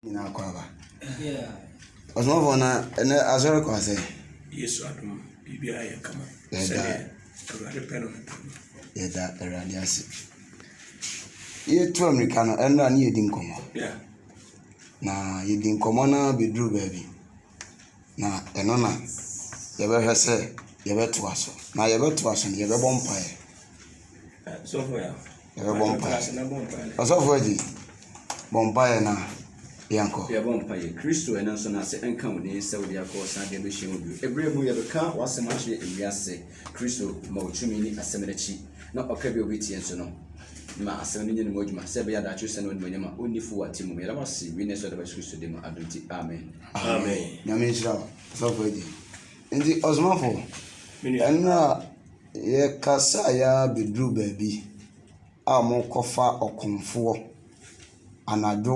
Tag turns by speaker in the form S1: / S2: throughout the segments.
S1: Nyinaa kɔ aba. Ɔsomafo na ɛnɛ asɔre kɔ ase. Yesu adum
S2: biribi ayɛ kama. Yɛda Awurade
S1: pɛ no.
S2: Yɛda
S1: Awurade ase. Yɛtu amirika no ɛnna ne yɛdi nkɔmɔ.
S2: Na
S1: yɛdi nkɔmɔ na bɛduru baabi. Na ɛno na yɛbɛhwɛ sɛ yɛbɛtoa so. Na yɛbɛtoa so no, yɛbɛbɔ mpaeɛ.
S2: Yɛbɛbɔ mpaeɛ.
S1: Ɔsɔfo Agyi, bɔ mpaeɛ na yɛnkɔ. Yɛbɔ mpaeɛ. Kristo
S3: ɛno nso n'ase nka wo den sɛ wode akɔ saa deɛ bɛhyɛ wo bio. Ɛberɛ mu yɛbɛka w'asɛm akyerɛ ewiase. Kristo ma otumi ne asɛm no akyi, na ɔka bi a obi tie nso no ma asɛm no nya ne mu adwuma, sɛ ɛbɛyɛ a daakye ɔsɛn no animuonyam a onni fo wɔ atemmu mu. Yɛda wo ase, wei na ɛsɛ ɔdaba Yesu Kristo din mu, adom nti, amen. Amen. Nyame
S2: nhyira wo,
S1: Ɔsɔfo Agyi. Nti ɔsomafo, ɛnna yɛkasa yɛ ara bɛduru baabi a wɔkɔfa ɔkomfoɔ anadwo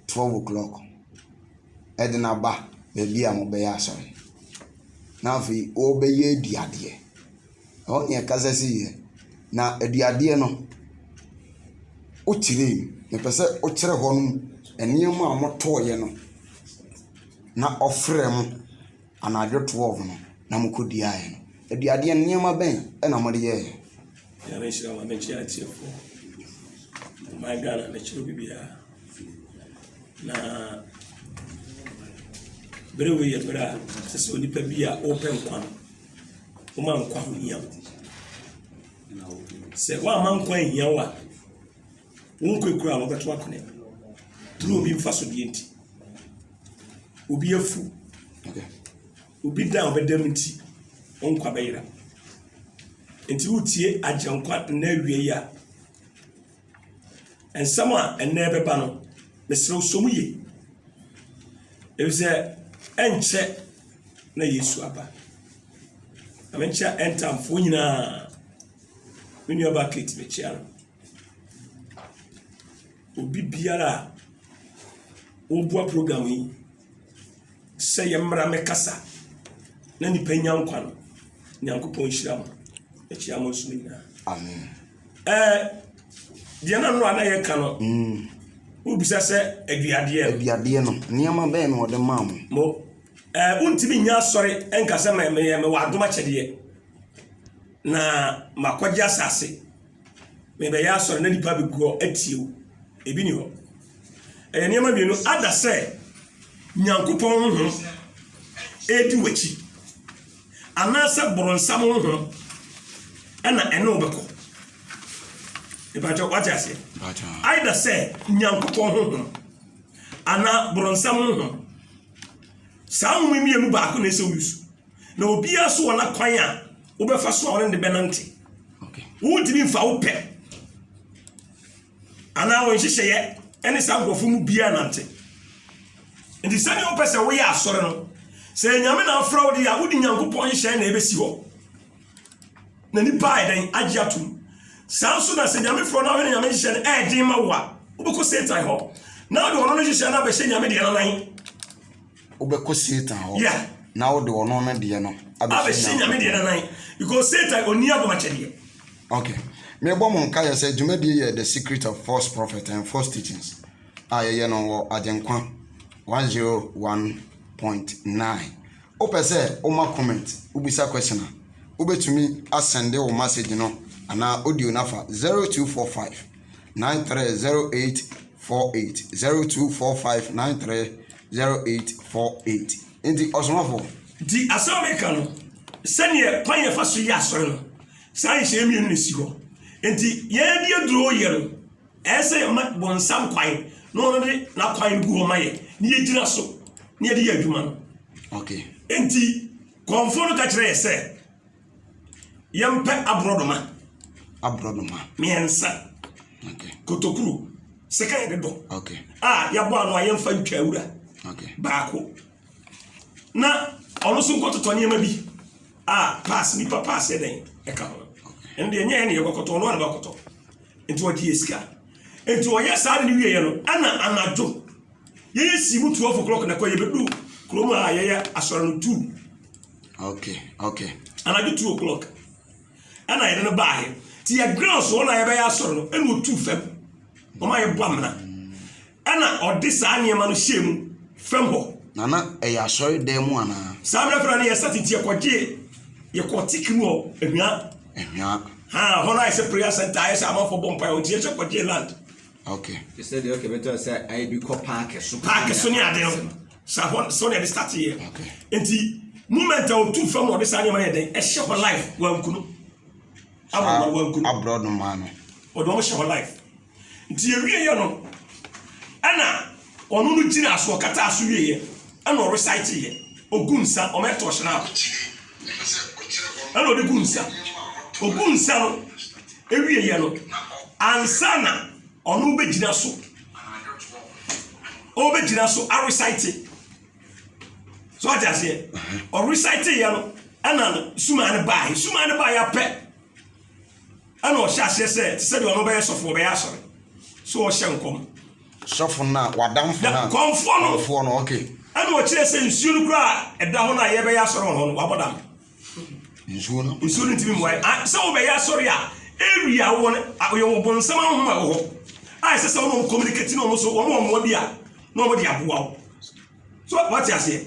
S1: twelve o'clock de no aba baabi a wɔbɛyɛ asɔre, na afei wɔrebɛyɛ aduadeɛ. Ɛhɔ na ɛkasa siiɛ, na aduadeɛ no, wokyerɛ mu. Mepɛ sɛ wokyerɛ hɔnom nneɛma a wɔtɔeɛ no na wɔfrɛ ho. anadwo 12 no na mokɔduaaɛ no. Aduadeɛ no, nneɛma bɛn na mode yɛeɛ? Nyame nhyira
S2: ma mɛkyerɛ atiefoɔ. My Ghana mekyerɛ obi biara. Na bere wei yɛ bere a sɛ sɛ onipa bi a wopɛ nkwa no, woma nkwa ho hia wo. Sɛ woama nkwa nhia wo a, wonkɔ ekura a wobɛto akone. Turu obi mfa so deɛ nti. obi afu, obi da a ɔbɛda mu nti, wo nkwa bɛyera. Nti wotie Agyenkwa nna awie yi a, nsɛm a ɛnna ɛbɛba no, mesrɛ sɔ mu yie. Efisɛ ɛnkyɛ na Yesu aba. Na menkyɛ ɛntamfoɔ nyinaa, me nuabaa Kate mekyia no. Obi biara a ɔreboa program yi, sɛ yɛmmra mmɛkasa na nnipa nya nkwa no, Nyankopɔn nhyira mo. Akyia mo nso mo nyinaa. Amen.
S1: Ɛɛ
S2: deɛ na no a na yɛka no, mm. wobisa sɛ aduadeɛ no. Aduadeɛ no, nneɛma bɛn
S1: na ɔde maa mo? Mo
S2: ɛɛ wontumi nya asɔre nka sɛ mɛyɛ mɛwɔ adom akyɛdeɛ na makɔgye asase. Merebɛyɛ asɔre na nipa bɛgu hɔ atie wo. Ebi ni hɔ. Ɛyɛ nneɛma mmienu. Ada sɛ Nyankopɔn honhom ɛredi w'akyi anaasɛ boronsam honhom ɛna ɛne wo bɛkɔ. Ìbàjọ́ wájú àṣẹ. Àìdá sẹ́ nyankopɔn honhom anaa borɔnsam honhom. Saa honhom mmienu baako na ɛsɛ wo yusu. Na obiara nso wɔ n'akwan a wobɛfa so a ɔne ne bɛnante. Wontumi
S1: mfa wo
S2: pɛ anaa wo nhyehyɛeɛ ɛne saa nkurɔfoɔ mu biara nante. Nti sɛdeɛ wopɛ sɛ woyɛ asɔre no, sɛ Nyame na afra wo deɛ a, wode Nyankopɔn nhyehyɛeɛ na ɛbɛsi hɔ. Na nipa ayɛ dɛn agye atom. Saa nso na sɛ Nyame frɛ no ahwɛ ne Nyame nhyehyɛeɛ no ɛɛden ma wo a, wobɛkɔ Satan hɔ. Na wode ɔno no nhyehyɛeɛ no abɛhyɛ Nyame deɛ no nan. Wobɛkɔ
S1: Satan hɔ Yeah. na wode ɔno
S2: ne
S1: deɛ no abɛhyɛ nyame deɛ nanan
S2: because satan ɔni agomakyɛdeɛ Okay.
S1: Mebɔ mo nkaeɛ sɛ dwumadie yɛ The Secret of False Prophet and False Teachings a yɛyɛ no wɔ Agyenkwa 101.9. Wopɛ sɛ woma comment, wobisa question a, wobɛtumi asɛnde wo message no anaa audio no afa 0245 930848, 0245 930848. Zero eight four eight Enti ɔsomafo. Nti asɛm a meka
S2: no, sɛdeɛ kwan a yɛfa so yɛ asɔre no, saa nhyehyɛeɛ mmienu na ɛsi hɔ. Nti yɛn de aduro yɛ no, ɛyɛ sɛ yɛma bonsam kwan na ɔno de n'akwan no gu hɔ ma yɛn na yɛgyina so na yɛde yɛ adwuma no. Okay.
S1: Nti
S2: kɔmfoɔ no ka kyerɛ yɛn sɛ. Yɛmpɛ aborɔnoma. Aborɔnoma. Mmiɛnsa. Okay. Kotokuru. Sika yɛde dɔ. Okay. A yɛabɔ
S1: ano a
S2: yɛmfa ntwa awura. Okay. Baako. Na ɔno nso nkɔtotɔ nneɛma bi a paase nipa paase yɛ dɛn ɛka ho. Ɛnde ɛnyɛ yɛn na yɛkɔkɔtɔ ɔno ara na bakɔtɔ. nti ɔgye yɛ sika nti ɔyɛ saa de ne wieɛ no ɛna anadwo yɛyɛ sii mu 12 o'clock na kɔ yɛbɛdu kurom a yɛyɛ asɔre no 2 okay
S1: okay anadwo 2
S2: o'clock ɛna yɛde no baahe nti yɛ ground so ɔna yɛbɛyɛ asɔre no ɛna ɔtu fam ɔma yɛbɔ amena Ɛnna ɔde saa nneɛma no hyɛɛ mu fam hɔ. Na na ɛyɛ
S1: asɔredan mu anaa? Saa berɛ korɔ no na yɛsan
S2: tete yɛkɔgyee yɛkɔɔ Tikiri hɔ Ahwia. Ahwia. Ha, hɔ no ayɛ sɛ prayer center ayɛ sɛ amanfoɔ bɔ mpaeɛ hɔ nti yɛhyɛ kɔgyee land. Okay. Te
S1: sɛ deɛ ɔkɛ bɛtɔ
S3: sɛ ayɛ bi kɔ paake so. Paake so ne ade no.
S2: Saa hɔ so na yɛde starteeɛ. Okay. Nti moment a ɔtu fam na ɔde saa nneɛma no yɛ dɛn ɛhyɛ hɔ life wankunu. Abɔ wankunu.
S1: Aborɔ no maa no. Ɔde wɔn hyɛ hɔ life.
S2: Nti ɔwieɛ no, ɛna ɔno no gyinaa so, ɔkataa so wieɛ, ɛna ɔreciteeɛ, ɔgu nsa, ɔma ɛtɔ hyena a, ɛna ɔde gu nsa, ɔgu nsa no, ɛwieɛ no, ansa na ɔno bɛgyina so, ɔbɛgyina so arecite, so ɔte aseɛ, ɔreciteeɛ no, ɛna sumaa no baae, sumaa no baae apɛ, Ɛna ɔhyɛ aseɛ sɛ, te sɛ deɛ ɔno bɛyɛ sɔfo, ɔbɛyɛ asɔre. So ɔhyɛ nkɔm. Sɔfo no a,
S1: wadamfo no a. Kɔmfoɔ no. Kɔmfoɔ no,
S2: okay. Ɛna
S1: ɔkyerɛ sɛ
S2: nsuo no koraa a ɛda hɔ no a yɛbɛyɛ asɔre wɔ hɔ no, wabɔ dam. Nsuo
S1: no? Nsuo no ntumi mmoa yɛ.
S2: Sɛ wobɛyɛ asɔre a, area a wowɔ no, yɛ wɔ bonsam ahoma wɔ hɔ. A ɛsɛ sɛ wɔn communicate ne wɔn so, wɔn wɔ mmoa bi a, na wɔn de aboa wo. so wate aseɛ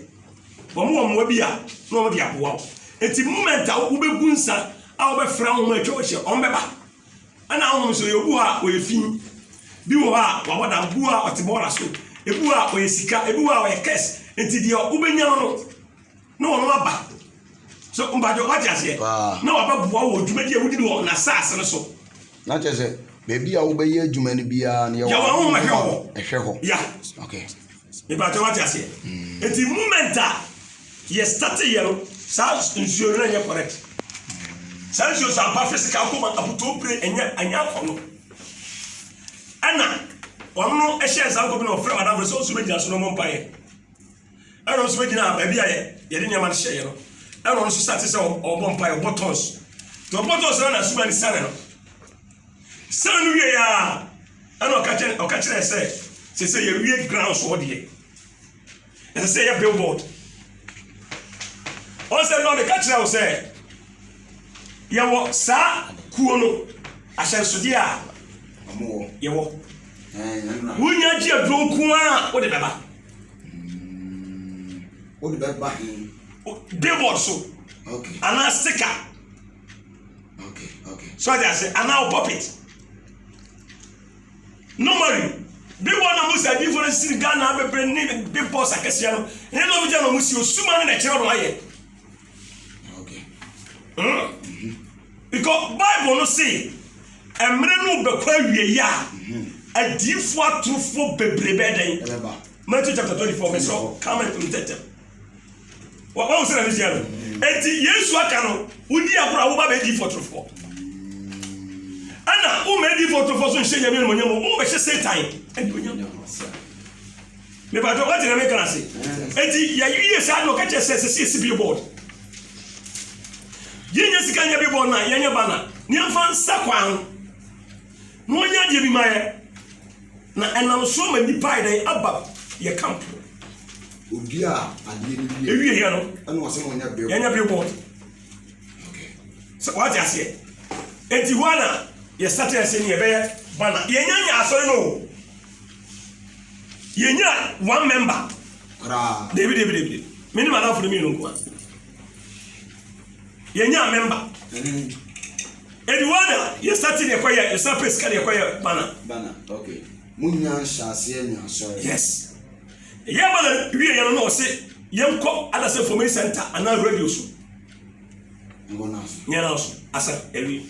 S2: wɔn wɔ mmoa bi a na wɔn de aboa wo eti moment a wobɛgu nsa a wobɛfra wɔn atwa wɔn ahyia wɔn bɛba ɛna ahohom so yɛ obu hɔ a wɔyɛ fi bi wɔ hɔ a wɔabɔ dam bu a ɔte bɔɔla so ebu a wɔyɛ sika ebu a wɔyɛ kɛs eti deɛ wobɛnya no na wɔn aba so mpakyɛ wate aseɛ na wabɛboa wɔ dwumadi a wodi no wɔ n'asase no so na kyerɛ sɛ
S1: baabi a wobɛyɛ adwuma no biara no yɛwɔ ahoma hwɛ hɔ
S2: ɛhwɛ hɔ ya okay
S1: mpakyɛ wate
S2: aseɛ hmm. nti moment a yɛstate yɛ no saa nsuo no ɛnyɛ correct saa nsuo so aba physical koma abutuo pere ɛnyɛ ɛnyɛ akɔ no ɛna wɔn no ɛhyɛ nsa nkɔ bi na wɔfrɛ wɔn adamfo sɛ ɔsoro bɛgyina so na wɔn mpa yɛ Ɛna ɔno nso bɛgyinaa baabi a yɛde nneɛma no hyɛeɛ no. Ɛna ɔno nso sate sɛ ɔbɔ mpaeɛ, ɔbɔ tons. Nti ɔbɔ tons no na asuma no siane no. Siane no wieeɛ a, ɛna ɔka kyerɛ ɔka kyerɛ sɛ sɛ sɛ yɛwie grounds hɔ deɛ ɛsɛ sɛ yɛ billboard. Ɔn sɛ nɔɔ meka kyerɛ wo sɛ yɛwɔ saa kuo no ahyɛnsodeɛ a yɛwɔ. Wonya gye aduro nko a wode bɛba. wode bɛba he debɔd so anaa stika so ade ase anaa wo puppet normally bebɔ na mu sɛ adifo no siri ghana bebree ne bepɔ sakɛseɛ no ne nom gya na ɔmo si osuma ne na ɛkyerɛ no ayɛ Okay. Mm-hmm. Because Bible no say, mmerɛ no bɛkɔ awie yi a, adiifoɔ atorofoɔ bebree bɛɛ dɛn? Matthew chapter twenty four verse four come and read that. Wɔn wɔn sɛ na ne hyia no. Eti Yesu aka no, wodi agorɔ a woba bɛ adiifoɔ atorofoɔ. Ɛna wo mɛ adiifoɔ atorofoɔ so nhyɛ nyame no mo nyɛ mo, wo bɛhyɛ Satan ɛdi mo nyɛ mo. Mepatɔ wate na meka ase. Eti yɛyɛ saa na ɔka kyerɛ sɛ sɛ yɛsi billboard. Yɛnyɛ sika nyɛ billboard na yɛnyɛ banner. Ne yɛmfa nsa kwan ho. Na wɔnyɛ adeɛ bi ma yɛ. Na ɛnam so ma nnipa ayɛ dɛn aba yɛ camp. Odi
S1: a adeɛ no wie. Ewie yɛ no. Ɛna
S2: ɔsɛ mo nyɛ billboard.
S1: Yɛnyɛ billboard.
S2: Okay. Sɛ wate aseɛ. Eti hɔ na yɛ started sɛ ne yɛbɛyɛ banner. Yɛnyɛ nyɛ asɔre no o. yɛnya one member dabi
S1: dabi dabi
S2: mene madamfo no mmienu nkoa yɛnya member aduana yɛsate deɛ kɔyɛ yɛsa pɛ sika deɛ kɔyɛ bana
S3: monya
S1: nhyɛaseɛ nya asɔre yes
S2: ɛyɛ bana wie yɛ no na ɔse yɛnkɔ adasɛ fomei center anaa radio so
S1: nyɛ no so
S2: asa awie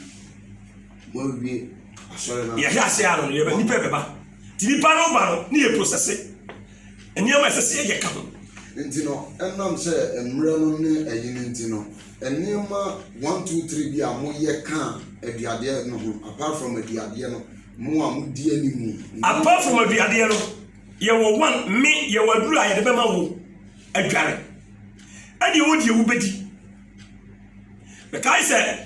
S1: yɛhwɛ ase ano no yɛbɛ nipa
S2: bɛba ti nipa no ba no ne yɛ prosɛse nneɛma ɛsɛ sɛ yɛyɛ ka ho. nti no
S1: ɛnam sɛ mmerɛ no ne ɛyi no nti no nneɛma one two three bi a moyɛ kaa aduadeɛ no ho apart from aduadeɛ no mo a modi animu. apart from aduadeɛ
S2: no yɛwɔ one me yɛwɔ aduru a yɛde bɛma wo adware ɛdeɛ wo deɛ wobɛdi mekae sɛ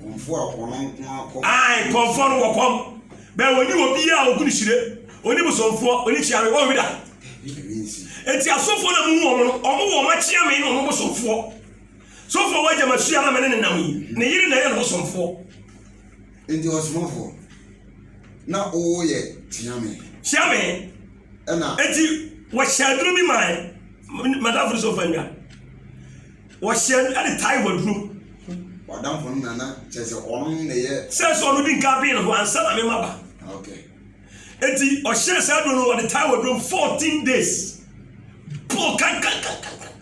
S1: Kɔmfoɔ a ɔno nko ara kɔ. Ae, kɔmfoɔ no wɔ kɔm.
S2: Bɛɛ wɔni obiara a ɔgu no hyire. Ɔni bosomfoɔ, ɔni kyeame, wɔn wida. Enti asɔfoɔ na muhu wɔn no, wɔn wɔ wɔn akyeame ne wɔn bosomfoɔ. Sɔfoɔ wɔ agya masua na mene ne nam yi. Ne yere na ɛyɛ no bosomfoɔ. Enti
S1: ɔsomafoɔ, na ɔwɔ yɛ kyeame. Kyeame. Ɛna.
S2: Enti wɔhyɛ aduro bi mae. Madamfo no sɛ ɔfa nwa. Wɔhyɛɛ no de tae wɔ aduro. W'adamfo no
S1: na na kyerɛ sɛ ɔno na ɛyɛ. Sɛ sɛ ɔno di nka bee
S2: ne ho ansa na me ma ba. Okay.
S1: Eti
S2: ɔhyɛɛ saa aduro no wɔde tae wɔ aduro mu fourteen days. Bɔɔ kankankankankan.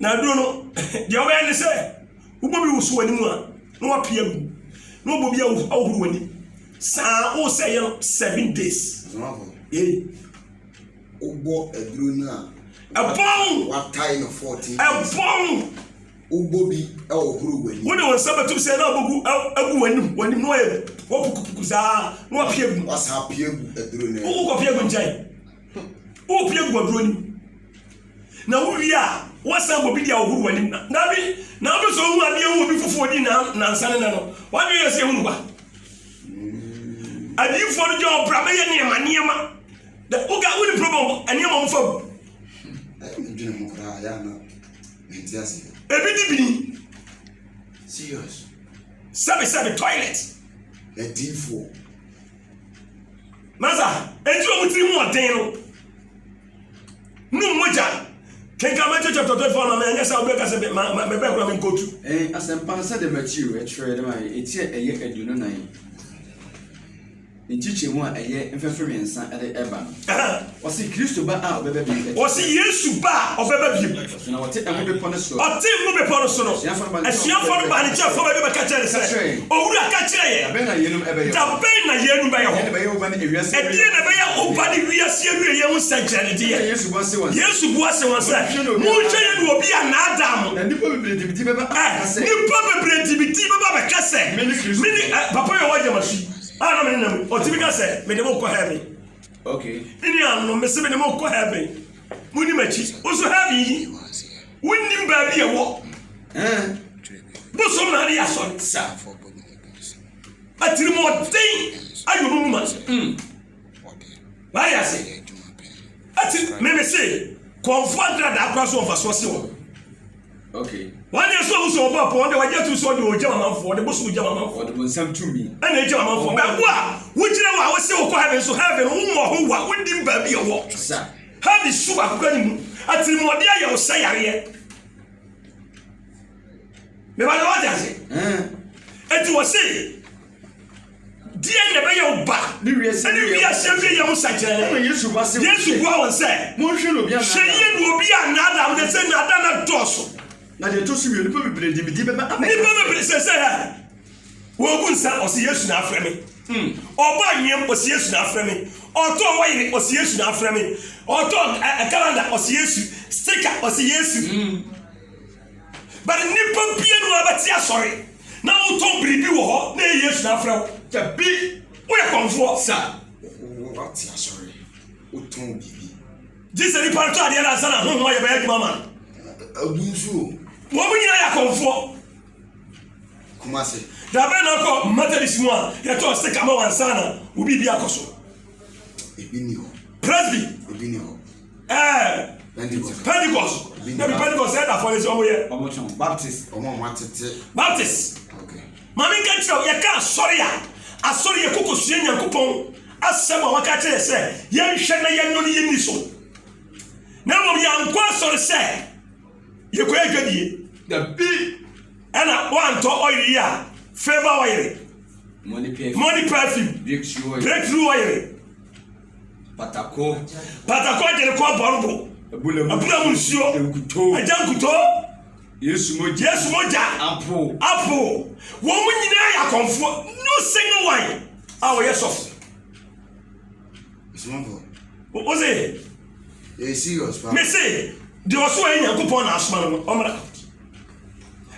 S2: Na aduro no deɛ ɔbɛyɛ ne sɛ wobɔ bi woso w'anim a na wapia gu na wobɔ bi ahohoro w'anim saa wosɛ yɛ no seven days. Ee.
S1: Wobɔ aduro no a. Ɛbɔn.
S2: Watae no
S1: fourteen. Ɛbɔn.
S2: Wobɔ bi
S1: ɛhohoro w'anim. Wode wɔn nsa bɛtum sɛ na
S2: ɔbɛgu agu w'anim w'anim na wɔyɛ wɔpukupuku saa na wɔpia gu. Wɔsan apia gu aduro
S1: no. Wokɔ kɔ pia gu nkyɛn.
S2: Wokɔ pia gu aduro no. Na wowie a wɔsan bɔ bi di ahohoro w'anim na na bi na wopɛ sɛ ohun adeɛ ho obi foforɔ di na nansa ne nɛ no wadwe yɛ sɛ ehunu kwa. Adiifoɔ no gyɛ ɔbra bɛyɛ nneɛma nneɛma. Da wo guy wo ni problem bɔ ɛni ɛma ɔmo fa bu. Ɛyɛ mi
S1: dwene ho koraa yɛ ana mi nti ase. Ebi di bini. Serious. Sɛbi
S2: sɛbi toilet. Ɛdiifoɔ. Masa eti ɔmo tiri mu ɔden no. Num mogya. Kenkan Matthew chapter twenty four ma mi ɛnyɛ sɛ ɔbɛ ka sɛ ma ma mɛ bɛ kura mi nkotu. Ɛɛ asɛmpa sɛ dɛ
S3: Matthew ɛtwerɛ dɛ ma yɛ eti ɛyɛ aduonu nan. nkyekyɛmu a ɛyɛ mfɛfɛ mmiɛnsa de reba no. Wɔse Kristo ba a ɔbɛba bio bɛte sɛ. Wɔse Yesu ba
S2: a ɔbɛba bio. Wɔse na ɔte Ngo Bepɔ
S3: no so. Ɔte Ngo Bepɔ no so no,
S2: asuafoɔ no baa ne nkyɛn fam baabi bɛka kyerɛɛ no sɛ, Owura, ka kyerɛ yɛn. Da
S3: bɛn na yeinom
S2: bɛyɛ hɔ? Da bɛn na yeinom bɛyɛ hɔ?
S3: Ɛdeɛn na ɛbɛyɛ wo ba
S2: ne wiase awieɛ ho nsɛnkyerɛnnedeɛ? Yesu bua se wɔn sɛ. Yesu
S3: bua se wɔn sɛ,
S2: Monhwɛ yie na obi annaadaa mo. Na nnipa bebree de me din bɛba
S3: abɛka sɛ. Ɛ, nnipa bebree de
S2: me din bɛba abɛka sɛ. Mene Kristo. Mene, ɛ, papa yɛ ɔwɔ Ayamasi. A na me ne no, ɔtumi ka sɛ, Mede mo kɔ heaven. Okay.
S3: Me nuanom,
S2: mese mede mo kɔ heaven. Muni m'akyi. Nso heaven yi, wonnim baabi ɛwɔ. Bosom na ade yɛ asɔre. Sa. Atirimɔden ayɛ ɔmo mu ma. Mm. W'ayɛ ase. Eti me me se kɔnfoɔ nkradaa kora so wɔ mfasoɔ se wɔn. Okay.
S3: Wɔn deɛ so ɔmo
S2: so ɔbɔ pɔ wɔn deɛ wɔgye atum so ɔde ɔgya wɔn amanfoɔ ɔde bosom gya wɔn amanfoɔ. Ɔde bonsam tumi.
S3: Ɛna egya wɔn amanfoɔ. Bɛɛbo
S2: a wogyina wɔ a wose wokɔ heaven so heaven wo mmɔ ho wa wonim baabi ɛwɔ. Sa. Heaven
S3: su baako
S2: kura ne mu. Atirimɔde ayɛ wo sɛ yareɛ. Mebɛdɛ wɔde ase. Eti wɔse. Deɛn na ɛbɛyɛ wo ba ne wiase
S3: awieyɛ ho
S2: sɛnkyerɛnne? Yesu
S3: bua wɔn sɛ,
S2: Monhwɛ no obi annaadaa mo. Hwɛ
S3: yie na obi
S2: annaadaa mo, na sɛ nnaadaa no adɔɔso. Na deɛ ɛtɔ so wie,
S3: nnipa bebree de me din bɛba abɛka. Nnipa bebree sɛ sɛ
S2: ha. Wɔgu nsa, ɔsi Yesu na afrɛ me. Hmm. Ɔbɔ anweam, ɔsi Yesu na afrɛ me. Ɔtɔn wayere, ɔsi Yesu na afrɛ me. Ɔtɔn eh, eh, kalanda, ɔsi Yesu. Stika, ɔsi Yesu. Hmm. But nnipa bianu ara bɛte asɔre na wotɔn biribi wɔ hɔ na ɛyɛ Yesu na afrɛ wo. Dabi, woyɛ kɔmfoɔ sir. Wate
S1: asɔre, wotɔn biribi. Gye sɛ nipa no
S2: tɔ adeɛ no ansa na honhom ayɛ bɛyɛ adwuma ama no. Agu nso o.
S1: Wɔn nyinaa
S2: yɛ akɔmfoɔ.
S1: Kumase. Dabe na ɔkɔ
S2: Methodist mu a yɛtɔ stick ama wɔn ansa na wo biribi akɔ so. Ebi
S1: ni hɔ. Presby. Ebi ni
S2: hɔ.
S1: ɛɛ
S2: pentikɔs dabi pentikɔs ɛyɛ dafɔ de sɛ ɔmo yɛ. ɔmo tɔn baptist ɔmo
S3: ɔmo atete.
S1: baptist
S2: maame
S1: nka kyerɛ
S2: yɛ ka asɔre a asɔre yɛ koko sua nyankopɔn asɛm a waka kyerɛ sɛ yɛnhwɛ na yɛnɔ ne yɛnni so na mmom yɛankɔ asɔre sɛ yɛkɔyɛ adwadie dabi
S3: ɛna
S2: woantɔ ɔyere yi a favor ɔyere money perfume breakthrough ɔyere
S3: Patako. Patako
S2: agyere kɔ abɔn bo. Abura mu nsuo. Nkuto. Agya nkuto. Yesu mogya. Yesu mogya. Apo. Apo. Wɔn nyinaa yɛ akɔmfoɔ. No single one a wɔyɛ sɔfo.
S1: Ɔsomafo. O se.
S2: Yɛ serious
S1: fa. Me se deɛ
S2: ɔso ayɛ Nyankopɔn na asoma no ɔmra.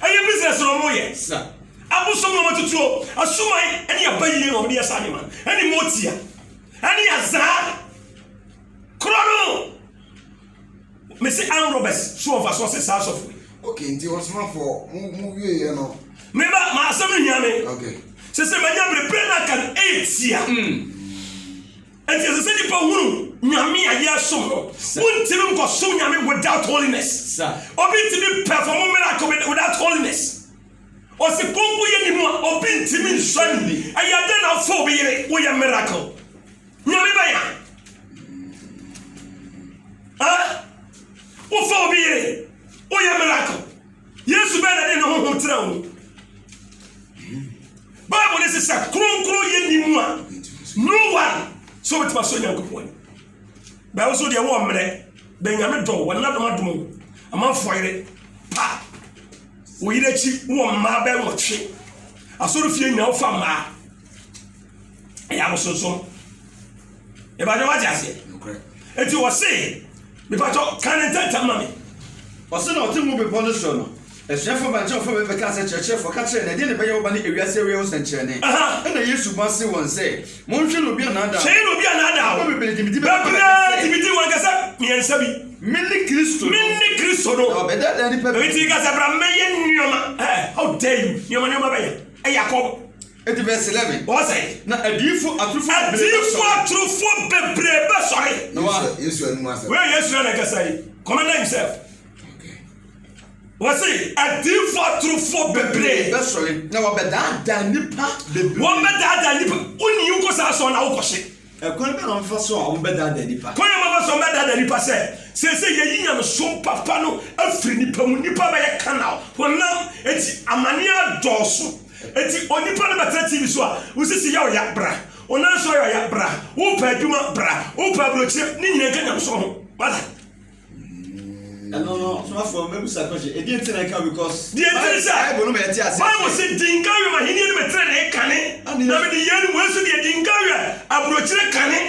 S2: Ɛyɛ business na ɔmo yɛ. Sa. Abosom na ɔmo tutuo. Asuman ɛne abayie na ɔmo de yɛ saa nneɛma. Ɛne motia. Ɛne aza korɔ no. Mese arm robbers so wɔ mfasoɔ se saa asɔfo yi. Okay nti ɔsomafoɔ
S1: mo mo wie yɛ no. Me ba ma asɛm
S2: no hia me. Okay. Sɛ sɛ
S1: manya bere
S2: pere na kan etia. Mm. Nti ɛsɛ sɛ nipa hunu nyame a yɛsom no. Wontumi nkɔsom nyame without holiness. Obi ntumi perform miracle without holiness. Ɔse konko yɛ ne mu a obi ntimi nsua ni ɛyɛ dɛ na ɔfo obi yere woyɛ miracle nyame bɛn a ah wofo obi yere woyɛ miracle yesu bɛn na de ne honhom tena wo bible ne se sɛ kronkron yɛ ni mu a no one sɛ obɛtumi asɔ nyankopɔn bɛwo so deɛ wɔ mmerɛ bɛnyame dɔ wɔn nadom adom amanfoɔ yere pa Wo yere akyi wɔ mmaa bɛ nwɔtwe. Asɔrefie nyinaa wofa mmaa. Ɛyɛ abosonsom. Ìbàdàn wá ti àṣẹ. Ètí
S1: wọ́n sè
S2: mìpàtọ́ kan ní ntẹ́ntẹ́m ma mi. Ɔse na
S3: ɔte Ngo Bepɔ no soro no, asuafoɔ baa nkyɛn a wɔfrɛ bɛ bɛkaa sɛ, Kyerɛkyerɛfoɔ, ka kyerɛ yɛn, ɛdeɛn na ɛbɛyɛ wo ba no awiase awiei ho sɛnkyerɛnne? Ɛnna Yesu bɔ ase wɔn sɛ, Monhwe na obi annaadaa mo. Hwee na obi annaadaa wo.
S2: Nnipa bebree gye me di bɛka wɔn kɛse.
S3: Bebree gye me di wɔn
S2: kɛse mmiɛnsa bi. Mene Kristo no.
S3: Mene Kristo no. Na
S2: wɔbɛdaadaa nnipa
S3: pii. Enti ka sɛ, Bra mmɛyɛ
S2: nneɛma. Ɛɛ, how dare you! Nneɛma nneɛma bɛn? Ɛyɛ akɔm. Enti verse
S3: eleven. Ɔsɛ. Na adiyifo
S2: atorofoɔ
S3: bebree bɛsɔre. Adiyifo atorofoɔ bebree
S2: bɛsɔre. Na wɔn a. Yesu anum
S1: asɛm. Wei yɛ Yesu na ɛkasa yi.
S2: Commander himself. Wɔsi adiifo atorofo bebree bɛsɔre na
S3: wɔbɛdaadaa nnipa bebree. Wɔbɛdaadaa nnipa.
S2: Wonni yi nkɔ saa sɔn na wokɔ hye. Ɛkwan bɛ na wɔfa
S3: so a wɔbɛdaadaa nnipa. Kwan a wɔfa so a wɔbɛdaadaa
S2: nnipa sɛ sese yɛyi nyamesom papa no afiri nnipa mu. Nnipa bɛyɛ kanaw. Honam eti amane adɔɔso. Eti onipa no bɛtena TV so a wosisi yaw ya bra. Onansɔ yaw ya bra. Wopɛ adwuma bra. Wopɛ aburokyire ne nyina nka nyamesom ho. Wada. ɛno
S3: no ɔsomafoɔ mɛbisa question ɛdi nti na ɛka because deɛ nti ne sɛ bible no
S2: ma yɛte ase bible
S3: sɛ di nka awie
S2: ma henniɛ no mɛtenenee kane na mede yei no wei so deɛ di nka awie aburokyire kane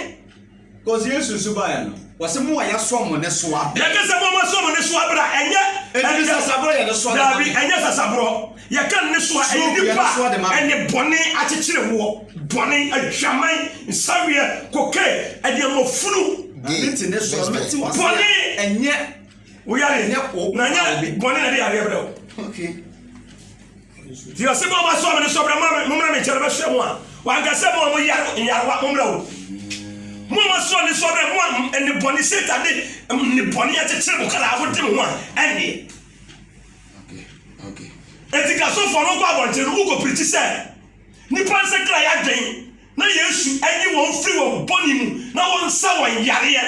S2: because yesu
S3: nso baeɛ no wɔsɛ mo a yɛasoa mo ne soa bɛ yɛka sɛ mo a moasoa mo ne
S2: soa berɛ a ɛnyɛ ɛnyɛ sasaborɔ yɛ ne soa
S3: daabi ɛnyɛ sasaborɔ
S2: Yɛka nnesoa a, ɛyɛ nnipa a ɛne bɔne, akyekyerewoɔ, bɔne, adwaman, nsaweɛ, kokain, aduanmɔfunu,
S3: bɔne, woyare,
S2: na nyɛ bɔne na ɛde yareɛ brɛ wo. Nti ɔse bɔ ɔma soa me ne sɔbrɛ mommra me nkyɛn no bɛhwɛ mo a wanka sɛ mo a mo yare nyarewa mommra o mo ɔma soa ne sɔbrɛ mo a ɛne bɔne satan de ne bɔne akyekyere mo kra wode mo ho a ɛnneɛ
S1: Atikasofo no
S2: kɔ abɔnten no, wokopirikyi sɛ nnipa nsakrae adwen na Yesu nyi wɔn mfiri wɔn bɔne mu na wɔnsa wɔn yareɛ.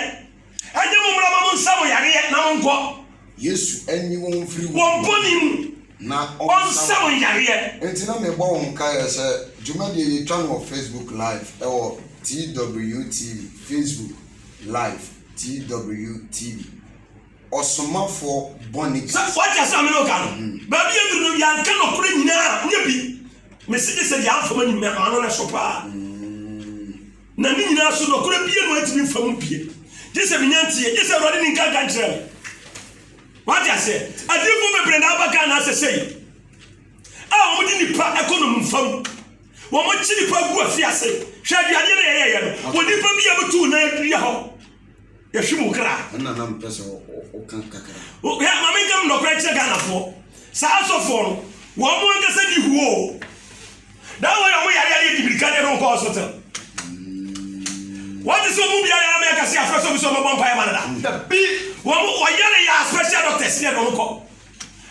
S2: Ɛnyɛ mommra ma monsa mo yareɛ na monkɔ. Yesu nyi
S1: wɔn mfiri wɔn bɔne mu
S2: na ɔnsa
S1: wɔn
S2: yareɛ. Enti na mebɔ wɔn
S1: nkaeɛ sɛ dwumadie yi yɛtwa no wɔ Facebook live ɛwɔ TWTV, Facebook live, TWTV. ɔsomafoɔ bɔne bi. Sɛ wate asɛm a me ne wo
S2: ka no? Baabi yɛduru no, yɛanka nɔkorɛ nyinaa a, nyɛ bi. Mese gye sɛ deɛ amfa m'anim na m'ano no so paa. Na ne nyinaa so, nɔkorɛ biara mu antumi mfa mu bie. Gye sɛ menya nteɛ, gye sɛ Awurade ne nka nka nkyerɛ me. Wate aseɛ? Adiyifoɔ bebree na aba Ghana asɛ sɛ yi, a wɔn de nipa ɛkɔ nom nfam. Wɔn kyi nipa gu afi ase. Hwɛ aduadeɛ na yɛyɛyɛ no. Wɔ nipa bi a butu na adua hɔ. yɛhwe mu kra. ɛna na mpɛ sɛ
S1: woka kakra. yɛ ma menkam
S2: nnɔkorɛ kyerɛ ghanafoɔ saa asɔfoɔ no wɔn mo ankasa di huo o daa wɔyɛ ɔmo yare adeɛ di mirika deɛ no nkɔ hospital wɔte sɛ ɔmo biara yɛ amɛka se afrɛ sɛ obi sɛ ɔmo bɔ mpaeɛ ma no da dabi wɔn ɔyare yɛ special doctors deɛ no nkɔ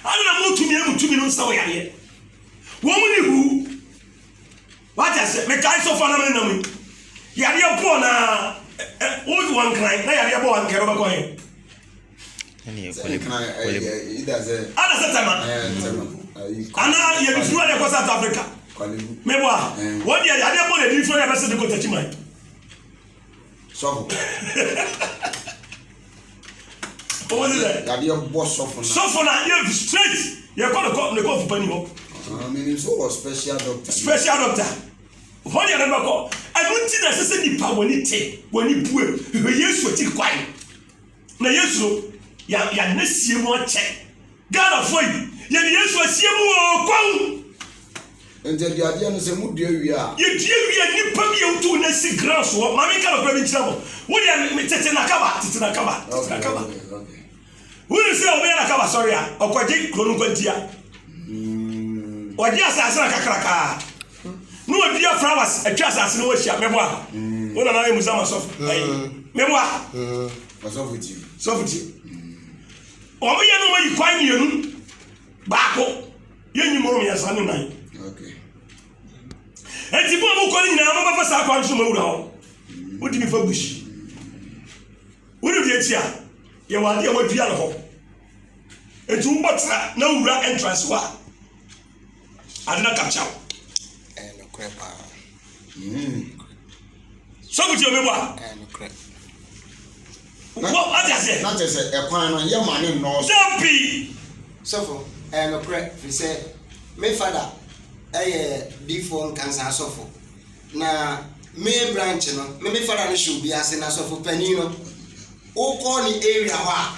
S2: ana na mo tumi amu tumi no nsa wɔ yareɛ wɔn mo di huo Wate aseɛ? Mekae so fa na me nam yi. Yadeɛ bɔɔ na wo wɔ nkran na yadeɛ bɔɔ ankɛ no bɛkɔ he?
S1: Ana sɛ tɛma
S2: ana yɛde firi adeɛ kɔ South Africa mebɔ a wɔn deɛ yadeɛ bɔ na ɛdiri firi adeɛ bɛsɛ de kɔ takyiman.
S1: sɔfo.
S2: ɔwɔ ne dɛ. yadeɛ bɔ sɔfo na.
S1: sɔfo na yɛ fi
S2: straight yɛ kɔ ne kɔ ne kɔ fupa ni hɔ. mene nso wɔ
S1: special doctor. special doctor hɔ
S2: deɛ ne bɛkɔ ɛno nti na ɛsɛ sɛ nipa wɔne te wɔne bue hwehwɛ yesu akyiri kwan. Na yesu no ya ya ne sie mu akyɛ Ghana foɔ yi yɛ de yesu asie mu oo kwan. Nti
S1: aduadeɛ no sɛ mo dua wie a. Yɛ dua wie a nipa
S2: bi a wotu na si ground so hɔ maame nka nɔkora bi nkyerɛ mo wo deɛ me tete na kaba tete na kaba tete na kaba
S1: wone
S2: sɛ ɔbɛyɛ na kaba sɔre a ɔkɔgye kuro no nkwantia ɔgye asase na kakrakaa Ne ɔdua flowers atwa asase no ho ahyia mɛboa mm. wo nana yɛ musa ma sɔfo mm. ayi mɛboa mm. sɔfo tie sɔfo tie wɔn yɛ no wɔn yi kwan mmienu baako yɛ nyi mɔrɔ mmiɛnsa ne nan eti bɔn mu kɔ ne nyinaa wɔn bɛfa saa kwan so ma wura hɔ wodi mi fa bush wodi bi akyi a yɛ wɔ adeɛ wɔ dua no hɔ etu wobɔ tra na wura entrance hɔ a. Ade na ka kyerɛ wo. Ɛyɛ
S4: nokorɛ paa. Mm.
S2: So kuti obi bɔ a. Ɛyɛ nokorɛ. Wɔ adi aseɛ. Na kyerɛ sɛ ɛkwan no
S1: yɛ ma ne nnɔɔso. Dabi.
S2: Sɔfo,
S4: ɛyɛ nokorɛ firi sɛ me fada ɛyɛ diifoɔ nkansa asɔfo na me branch no me me fada no hyɛ obi ase na sɔfo panin no wokɔ ne area hɔ a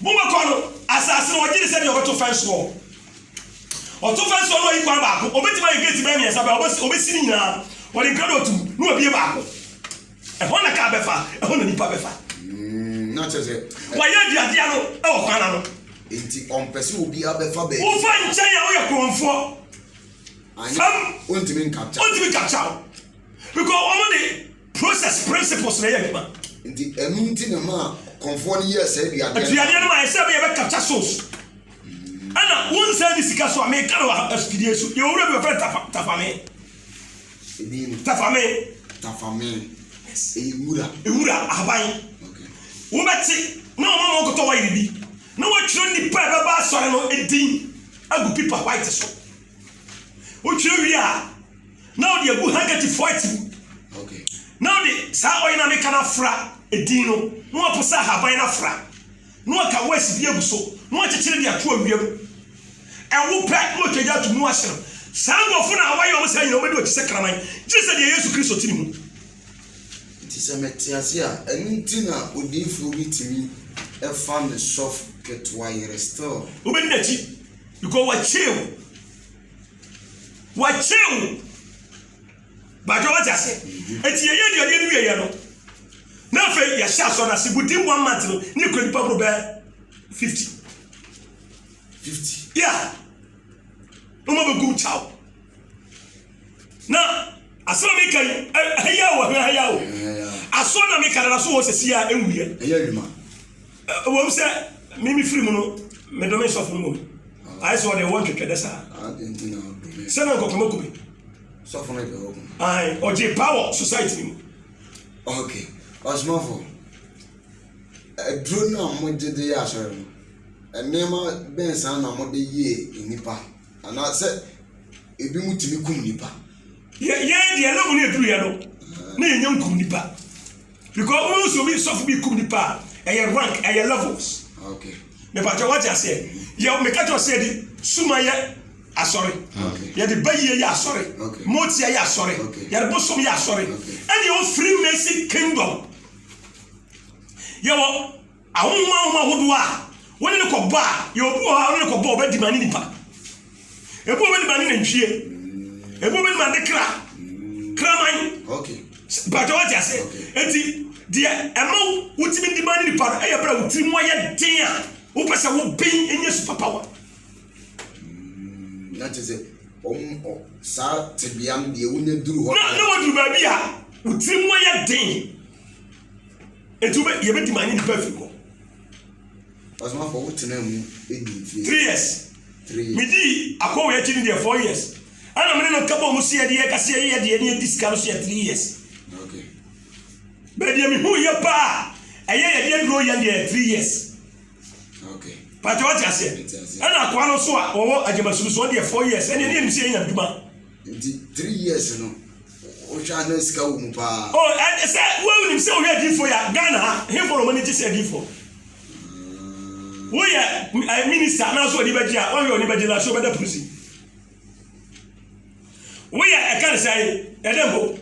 S2: Boma kɔ no asase no wɔgye ne sɛdeɛ ɔbɛto fɛnsoɔ. Ɔto fɛnsoɔ no ɔyi kwan baako, ɔbɛtumi ayɛ gate bɛyɛ mmiɛnsa bɛyɛ ɔbɛsi ɔbɛsi ne nyinaa ɔde nkradɔ tum na wabie baako. Ɛhɔ na kaa bɛfa, ɛhɔ na nipa bɛfa. Mm, na kyerɛ
S1: sɛ. Wɔayɛ aduadea no
S2: ɛwɔ kwan na no. Nti ɔmpɛ
S1: sɛ obi abɛfa baabi. Wofa nkyɛn a woyɛ
S2: korɔmfoɔ. Fam.
S1: Ontumi nkapcha. Ontumi nkapcha o.
S2: Because wɔn de. Process, principles na ɛyɛ adwuma. Nti ɛno nti
S1: na ɛmaa kɔmfoɔ no yɛɛ saa aduadeɛ no. Aduadeɛ no ma yɛ sɛ bɛ yɛ
S2: bɛ capture souls. Ɛna wonsan ni sika so a meka no wɔ ha afidie so. Yɛwɔ wura bi wɔfrɛ Tafa Tafame. Edin no. Tafame. Tafame. Yes. Ɛyɛ
S1: nwura. Nwura
S2: ahaban. Okay.
S1: Wobɛte
S2: na wɔn a wɔkɔtɔ wayiri bi na wɔatwerɛ nipa a ɛbɛba asɔre no edin agu pipa white so. wotwerɛ wie a na wode agu handkerchief white mu
S1: na wode
S2: saa ɔyɛ no meka no afra edin no na wapo sɛ ahaban no afra na waka wes bi agu so na wakyekyere de ato awia mu ɛwo pɛ na watwagya ato mu ahye no saa nkurɔfo na wayɛ ɔmo saa nyina ɔmɛdi wakyi sɛ kraman gye sɛ deɛ yesu kristo ti ne mu nti
S1: sɛ mɛte ase a ɛno nti na odiifoɔ bi tumi ɛfa ne sɔf ketewa yere still wobɛdi n'akyi
S2: Because wɔakyere wo. Wɔakyere wo. Baadwa wate ase. Eti yɛyɛ aduane no wieɛ no. Na afei yɛhyɛ asɔ no ase within one month no ne yɛkura nipa boro bɛɛ fifty. Fifty. Yeah. Wɔn bɛgu kyaw. na asɛm a meka yi ɛha yi a wɔ ha yi a o aso na meka dada so wɔ sɛsi a ɛnwuiɛ ɛyɛ adwuma
S1: wɔm
S2: sɛ me me firi mu no medome sɔfo no mmom ayɛ sɛ ɔde ɛwɔ ntwetwɛ dɛ saa
S1: sɛ na nkɔkɔma kumi
S2: sɔfo no
S1: ɛbɛwɔ mu ɔgye power
S2: society no mu okay
S1: ɔsomafo aduro no a mogye de yɛ asɔre no nneɛma bɛn saa na mode yie nnipa Anaasɛ ebinom tumi kum nnipa. Yɛ yɛn
S2: deɛ na wɔn aduru yɛ no na yɛnya nkum nnipa because wɔn nso bi sɔfo bi kum nnipa a ɛyɛ rank ɛyɛ levels. Ah, okay.
S1: mepatɛ wate
S2: aseɛ yɛ meka kyɛ sɛ yɛde suma yɛ asɔre ah, yɛde
S1: bayie yɛ asɔre
S2: motia yɛ
S1: asɔre
S2: yɛde bosom yɛ
S1: asɔre
S2: ɛne ɛwɔ free
S1: mason
S2: kingdom yɛwɔ Ahonhom ahonhom ahodoɔ a wone no kɔbɔ a, yɛ obi wɔ hɔ a wone no kɔbɔ ɔbɛdi ma ne nipa. Ebi ɔbɛdi ma ne nantwie. Ebi ɔbɛdi ma ne kra. Kraman.
S1: Bàtà wate ase.
S2: Eti deɛ ɛma wotumi di ma ne nipa no ɛyɛ bere a wotiri mu ayɛ den a wopɛ sɛ woben enye super power. Mm,
S1: na kyerɛ sɛ wɔn saa tebea no deɛ wonya duru hɔ. Na na waduru baabi a
S2: wotiri mu ayɛ den. Nti wobɛ yɛbɛdi ma anyi nipa firi hɔ.
S1: Ɔsomafo wo tena mu ɛdi mfie. Three years. Three years.
S2: Medi
S1: akɔ wei akyi ne
S2: deɛ four years. Ɛna mene no nka bɔ mu si yɛde yɛ kase yɛ yɛ deɛ ne yɛdi sika no so yɛ three years. Okay. Bɛdeɛ mehu yɛ paa ɛyɛ yɛde aduro yɛ deɛ three years. Okay.
S1: Pàtó ɔte aseɛ.
S2: Ɛna akoa no so a wɔwɔ agyamasuru so ɔdeɛ four years ɛne ɛne ɛnim si yɛ nyamduma. Nti three
S1: years no wohwɛ a na sika wɔ mu paa.
S2: Oh, and
S1: sɛ
S2: wonim sɛ woyɛ adiifoɔ yɛ Ghana ha hemfo na wɔn ani gye sɛ
S1: adiifoɔ.
S2: Woyɛ eh, minister na nso wɔn ani bɛgye a wɔhwɛ wɔn ani bɛgye na so wɔbɛda prison. Woyɛ ɛka ne sɛ ɛdɛ mpo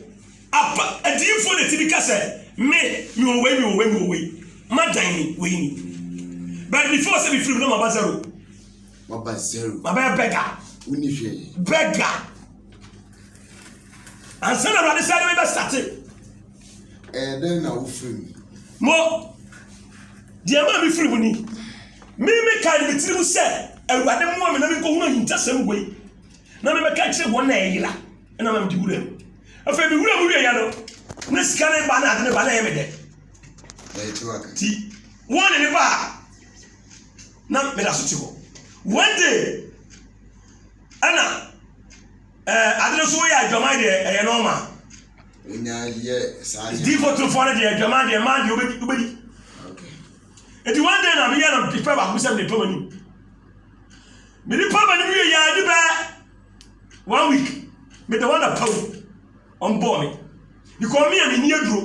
S2: apa adiifoɔ na ti bi ka sɛ me mi wɔ wei mi wɔ wei mi wɔ wei madan ni wei ni. But before sɛ mefiri mu na maba zero. Waba zero. Wabɛyɛ beggar. Wonni hwee.
S1: Beggar.
S2: Ansa na Awurade sɛ de bɛbɛ sate. Ɛyɛ
S1: dɛn na wofiri mu? Mo,
S2: deɛ maa mi firi mu ni. Mi mi kan mi tiri mu sɛ Awurade mmoa mi na mi nkɔhunu ahintasɛm wei na mi bɛka kyerɛ wɔn na ɛyera ɛna ma mi di wura mu. Afei mi wura mu wie ya no ne sika ne ba na ade ne ba na ɛyɛ mi dɛ. Ti wɔn ne ne ba a. na meda so te hɔ one day ɛna ɛɛ ade no so yɛ adwaman deɛ ɛyɛ nɔɔma. wonya
S1: yɛ saa yɛ. diifo tufoɔ no deɛ
S2: adwaman deɛ maa deɛ wobɛdi wobɛdi eti one day na meyɛ no pɛ baako sɛ mede pam anim mede pam anim yɛ yɛ ade bɛɛ one week mede wɔn na pam wɔn bɔɔ me. because me a menni aduro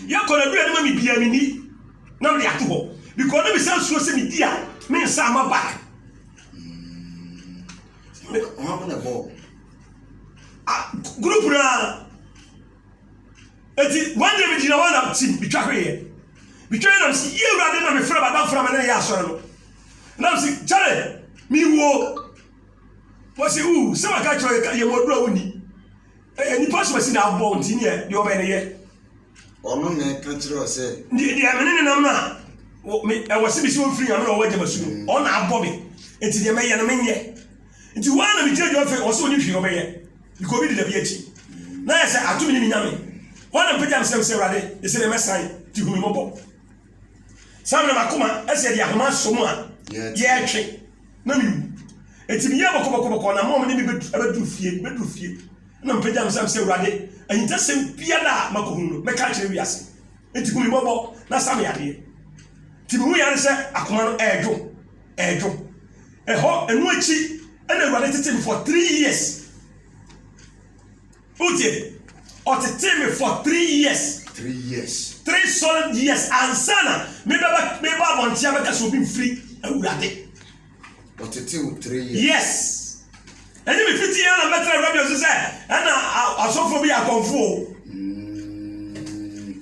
S2: yɛkɔ n'aduro anim a mebi a menni na mede ato hɔ because na mesan suro sɛ medi a me nsa ama ba
S1: group
S2: no a ɛti one day megyina hɔ na tim metwa hweeɛ metwa yɛ nam sɛ yie awurade na mefrɛ madamfra ma ne yɛ asɔre no nam sɛ kyɛre mewuo wɔsi u sɛ maka kyerɛ yɛ yɛ mɔduro a wonni Ɛyɛ nnipa so asi na abɔ nti neɛ deɛ ɔbɛyɛ no yɛ. Ɔno na
S1: ɛka kyerɛ wo sɛ. Deɛ deɛ mene ne nam no
S2: a ɛwɔ sɛ mesi wɔn firi nyame na wɔwɔ agya masu no mm. ɔna abɔ me nti deɛ mɛyɛ no menyɛ nti wɔn na megyina gyina fɛ ɔsɛ ɔni hwee ɔbɛyɛ because obi di dabi akyi mm. na yɛ sɛ ato me ne me nyame wɔn na mpagya mesɛm sɛ awurade ɛsɛ dɛ mɛsan ti hu me mmɔbɔ Saa na m'akoma asi adi ahoma asɔ mu a yɛretwe na mewu. Enti meyɛɛ bɔkɔbɔkɔbɔkɔ na mom ne me bɛduru fie, bɛduru fie. Na mepagya me sɛ, Awurade, ahintasɛm biara a makɔhunu no, mɛka akyerɛ wiase. Enti hu me mmɔbɔ na sa me yadeɛ. Nti mehu yɛ ade sɛ akoma no ɛredwo, ɛredwo. Ɛhɔ, ɛno akyi, ɛna Awurade tetee me for three years. Wotie? Ɔtetee me for three years. Three years. Three solid years ansa na mebɛba meba abɔnten abɛka sɛ obi mfiri awurade.
S1: Ɔtetee wo three years.
S2: Yes. Ɛnyɛ me fiti yɛn na mɛtena radio so sɛ ɛna asɔfoɔ bi yɛ akɔmfoɔ. Mm.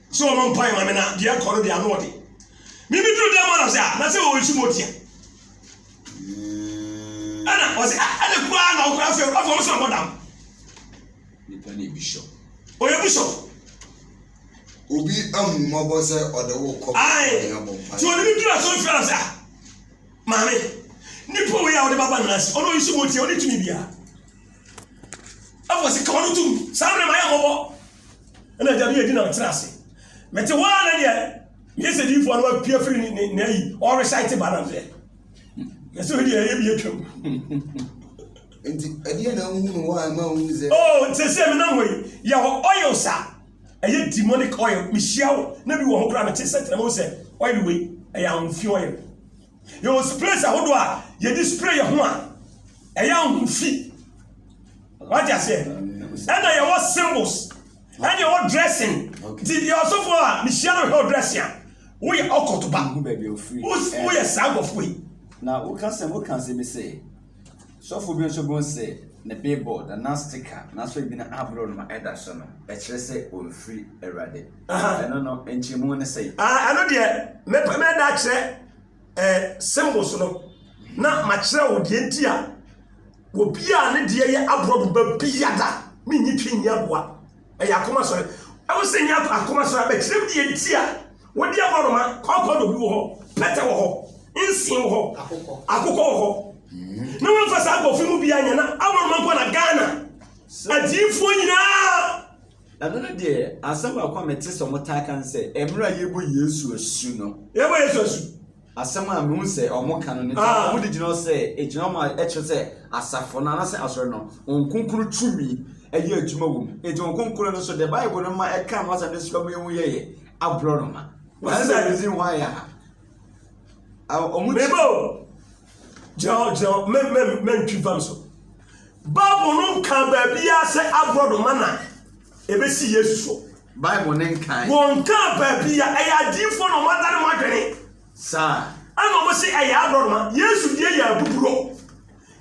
S2: Sɛ ɔmɔ mpae ma me na deɛ ɛkɔ no deɛ ano ɔde. Me me duru dɛm hɔ na ɔsɛ ah na sɛ ɔwɔ nsu motia. Ɛna ɔsɛ ah ɛna kura na ɔkura afɛ afɛ ɔmo sɛ ɔmɔ dam.
S3: Nipa na ebi shop. Ɔyɛ bi
S2: shop.
S1: Obi ahu mɔbɔ sɛ ɔde wo kɔ bɛ ɔmo abɔ mpae. Ti
S2: ɔde me duru asɔre fia na ɔsɛ ah maame nipa wei a ɔde baba nana si ɔno nsu motia ɔne tumi bia. Afɔ sɛ ka ɔno tum saa mmerɛ ma yɛ mɔbɔ. Ɛna agya bi yɛ di na ɔtena ase. Mete hɔ ara na deɛ meyɛ sɛ diifoɔ no apia firi ne ne n'ayi ɔresaete ba nam sɛ yɛsɛ hɔ deɛ ɛyɛ bi atwam.
S1: Nti ɛdeɛ na wohu no hɔ a ɛma wohu sɛ. Oh, sɛ sɛ me nam wɔ
S2: yi yɛ hɔ oil sa ɛyɛ demonic oil mehyia wo na bi wɔ hɔ koraa mete sɛ tena mo sɛ oil wei ɛyɛ ahomfi oil. Yɛwɔ sprays ahodoɔ a yɛde spray yɛ ho a ɛyɛ ahofi. Wate aseɛ? Ɛna yɛwɔ symbols. Ɛna yɛwɔ dressing. Ti yɛ ɔsɔfoɔ a mehyia no hwɛ ɔdrɛse a woyɛ ɔkɔto ba. Woyɛ
S3: saa nkurɔfoɔ
S2: yi. Na woka sɛ
S3: woka sɛ bi sɛ. Sɔfo bi nso bun se ne billboard a na stika n'aso abien aboro no ma ɛda so no kyerɛ sɛ ɔmfiri Awurade. Ɛno no, nkyerɛmu ne sɛn? Ah, ɛno deɛ,
S2: mɛpɛ mɛda akyerɛ eh, symbols no, na makyerɛ wo deɛ nti a obi a ne deɛ yɛ aborɔbo ba biada, mennyi twi nni aboa. ɛyɛ akoma sɔre ɛwɔ sɛ nya akoma sɔre abɛkyerɛm deɛ nti a wɔde aborɔnoma kɔnkɔn na obi wɔ hɔ pɛtɛ wɔ hɔ nsen wɔ hɔ akokɔ wɔ hɔ na wɔmfa saa nkɔfo mu bia nyɛ na aborɔnoma nkɔ na ghana adiifoɔ nyinaa ɛno
S3: no deɛ asɛm baako a mete sɛ ɔmotaa ka
S2: no sɛ
S3: ɛmmerɛ a yɛbɔ yesu asu no yɛbɔ yesu
S2: asu
S3: Asɛm a mehu sɛ wɔka no ne sɛ ah. wɔde gyina hɔ sɛ egyina hɔ ma ɛkyerɛ sɛ asafo no anaasɛ asɔre no wɔn kronkron tumi ɛyɛ adwuma wɔ mu eti wɔn kronkron no nso deɛ bible no ma ɛka no asɛm no sika mu ehu yɛyɛ aborɔ no ma wɔn sɛ ɛdzi ho ayɛ ha wɔn ti. mebo
S2: gyina hɔ gyina hɔ mɛ mɛ mɛ ntwi fam so bible no nka baabi a sɛ aborɔ no ma na ebesi yesu so. Bible no nkae.
S3: Wɔnkaa baabi
S2: a ɛyɛ adiyifoɔ na wɔadane wɔn adwene. Saa.
S3: Ɛna wɔse
S2: ɛyɛ aborɔnoma. Yesu deɛ yɛ abuburo.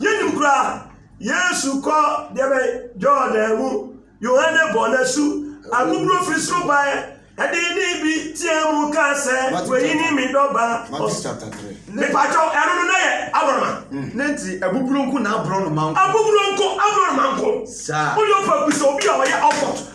S2: Yɛnnim koraa. Yesu kɔ deɛ bɛn Jordan mu. Yohane bɔ no asu. Abuburo firi soro baɛ. Ɛde nne bi teaa mu kaa sɛ, Wei ne me dɔ ba. Matthew chapter 3.
S1: Mepakyɛw, ɛno
S2: no na ɛyɛ aborɔnoma. Mm. Ne nti abuburo nko
S3: na aborɔnoma nko. Abuburo nko, aborɔnoma
S2: nko. Saa. Woyɛ ɔpɛ bisa obi
S3: a
S2: ɔyɛ Oxford.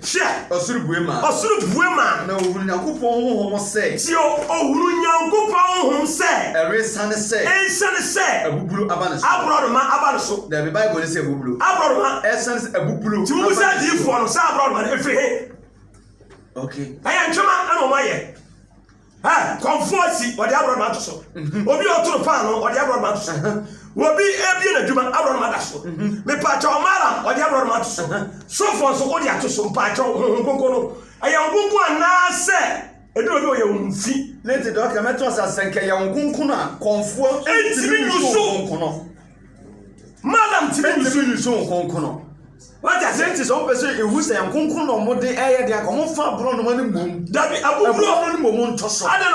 S2: Hwɛ!
S3: Ɔsoro bue maa no. Ɔsoro bue maa no. Na ɔhunuu Nyankopɔn honhom sɛ. Tie o, ɔhunuu
S2: Nyankopɔn honhom sɛ. Ɛresiane sɛ.
S3: Ɛresiane sɛ. Abubulo aba ne so. Aborɔnoma aba ne so.
S2: Dabi, Bible no se abubulo.
S3: Aborɔnoma. Ɛresiane
S2: sɛ abubulo. Nti
S3: wobu sɛ adiyifoɔ no,
S2: saa aborɔnoma no, ɛfiri he? Okay.
S3: Ɛyɛ ntwema
S2: na wɔayɛ. Ɛ, kɔmfoɔ asi, ɔde aborɔnoma ato so. Mhm. Obi a ɔtoro paanoo, ɔde aborɔnoma ato so. Mhm. Obi ebie n'adwuma, aborɔnoma da so. Mhm. Mepaakyɛ ɔma ara, ɔde aborɔnoma ato so. Sofoɔ nso, wode ato so. Mpaakyɛ honhom konko no, ɛyɛ wo konko anaasɛ ebi obi ɔyɛ wo mfi? Ne te dɔkta, mɛto asa
S3: sɛ nkɛ yɛ wo konko no a, kɔmfoɔ ntumi nso wo
S2: konko no. Madam tumi nso nso wo konko no.
S3: Wate aseɛ nti sɛ wopɛ sɛ ehu sɛ nkonko na wɔde ɛyɛ deɛ anka wɔmfa aborɔnoma no mmom. Dabi, abubuo. Abubuo no mmom nto so. Adɛn na